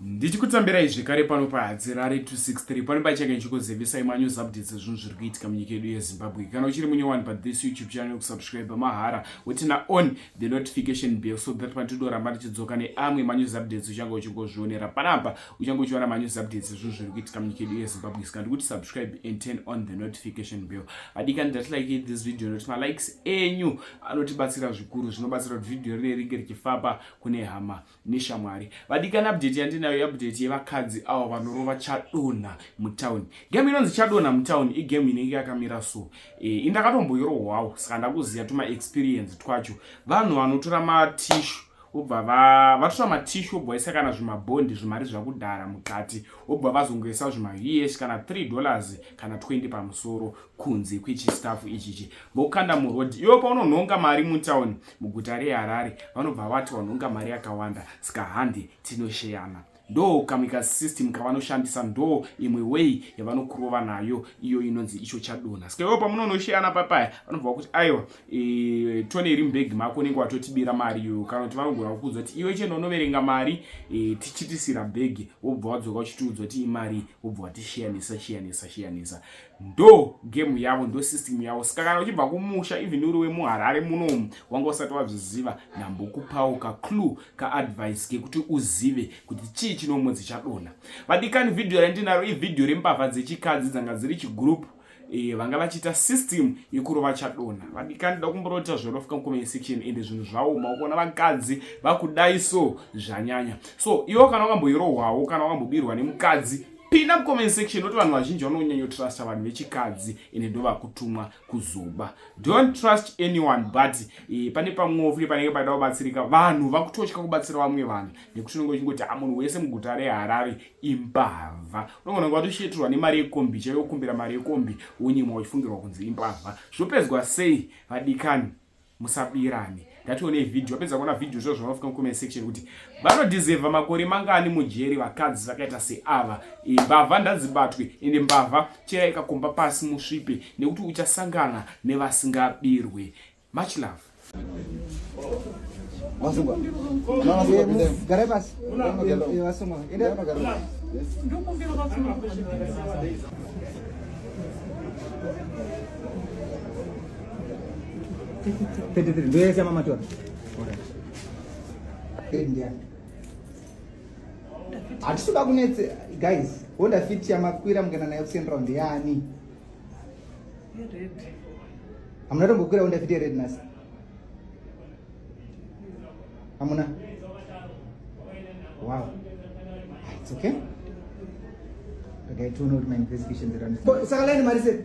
ndichikutambirai zvekare pano pahadzirare 263 pane pachake ndichikuzivisai manews updates ezvinhu zviri kuitika munyika yedu yezimbabwe kana uchiri munyowani pathis youtube channel kusubscribe mahara wotina on the notification bell so that patidoramba tichidzoka neamwe manews updates uchange uchingozvionera panapa uchange uchiona manews updates ezvinhu zviri kuitika munyika yedu yezimbabwe saka ndikuti subscribe and turn on the notification bell adikani ndati like this video nokuti malikes enyu anotibatsira zvikuru zvinobatsira kuti vhidhiyo rinenge ringe richifamba kune hama neshamwari vadikani update yandinayo update yevakadzi awa vanorova chadonha mutown game inonzi chadonha mutown igame inenge yakamira so e, eh, indakatomboirohwawo saka ndakuziva tuma experience twacho vanhu vanotora matishu obva vatora matishu obva vaisa kana zvimabhondi zvimari zvakudhara mukati obva vazongoisa zvimahs kana 3 dollars kana 20 pamusoro kunze kwechistaf ichichi vokanda muroad iwe paunonhonga mari mutown muguta reharare vanobva vati wanhonga mari yakawanda saka hande tinosheyana ndo kamika system kavanoshandisa ndo imwe way yavanokurova nayo iyo inonzi icho chadona saka iwe pamunonosheyana papaya vanobva vakuti aiwa e, tone iri mubhegi mako unenge watotibira mari iyoyo kana kuti vanogona kukuudza kuti iwe chena unoverenga mari e, tichitisira bhegi wobva wadzoka uchitiudza kuti imari wobva watisheyanisa sheyanisa sheyanisa ndo game yavo ndo system yavo saka kana uchibva kumusha even uri wemuharare munomu wanga usati wazviziva ndambokupawo kaclue kaadvice kekuti uzive kuti chii chinomwe dzichadona vadikani vhidhiyo randinaro ivhidhiyo rembavha dzechikadzi dzanga dziri chigroup e, vanga vachiita system yekurova chadona vadikani ndoda kumborota zvorofika mucomment section ende zvinhu zvaoma ukuona vakadzi vakudai so zvanyanya so iwo kana wakamboirohwawo kana wakambobirwa nemukadzi pinda mucomment section noti vanhu vazhinji vanonyanya trusta vanhu vechikadzi ende ndovakutumwa kuzoba don't trust anyone but e, pane pamwewo futi panenge paida kubatsirika vanhu vakutotya kubatsira vamwe vanhu nekuti unenge uchingoti a munhu wese muguta reharare imbavha unogona kunge watosheturwa nemari yekombi chaive kukumbira mari yekombi wonyimwa uchifungirwa kunzi imbavha zvopedzwa sei vadikani musabirane ngationei video apedza kuona video zvo zvavafika mucomment section kuti vanodizeva makore mangani mujeri vakadzi vakaita seava mbavha ndadzibatwe ende mbavha cheya ikakomba pasi musvipe nekuti uchasangana nevasingabirwe much love Masungwa. Garai pasi. Masungwa. Enda. Ndokumbira masungwa. 33 ndio yeye mama tu. Ndio. Atisuba kunetse guys, honda fit ya makwira mungena nayo kusiyana round yani. Red. Amuna tombo kwira honda fit ya red nasi. Amuna. Wow. It's okay. Okay, two note my investigation. Saka lani marise.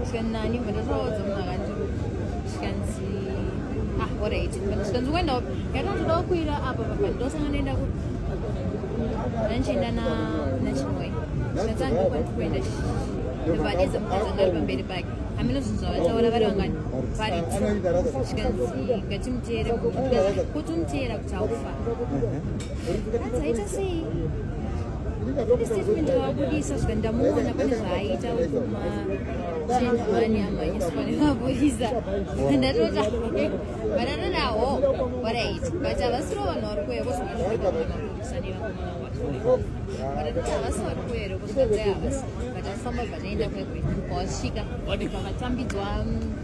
kusvika nani but ndatoudza munhu akati zvikanzi ah orit but zvikanzi kuendawo yatotodawo kuira apa papa ndosanga ndoenda ku andichienda nachimwe zvikanzi andokwanisa kuenda vadiza mukadzi angari pamberi pake hameno zvinhu zvavataura vari vangani vari zvikanzi ngatimuteere kuti umteera kuti haufa ndawabudisa zvika ndamuona pane zvaaita ukumachenjani amanyiswane mabudisa ndatota vanatonawo waraiti but havasiro vanhu vari kuuya kozvaaabudisa nevakomana vacho vanatoti havasi vari kuuya ere kozvaa havasi but afamba vanoenda kwekwe kwavasvika vakatambidzwa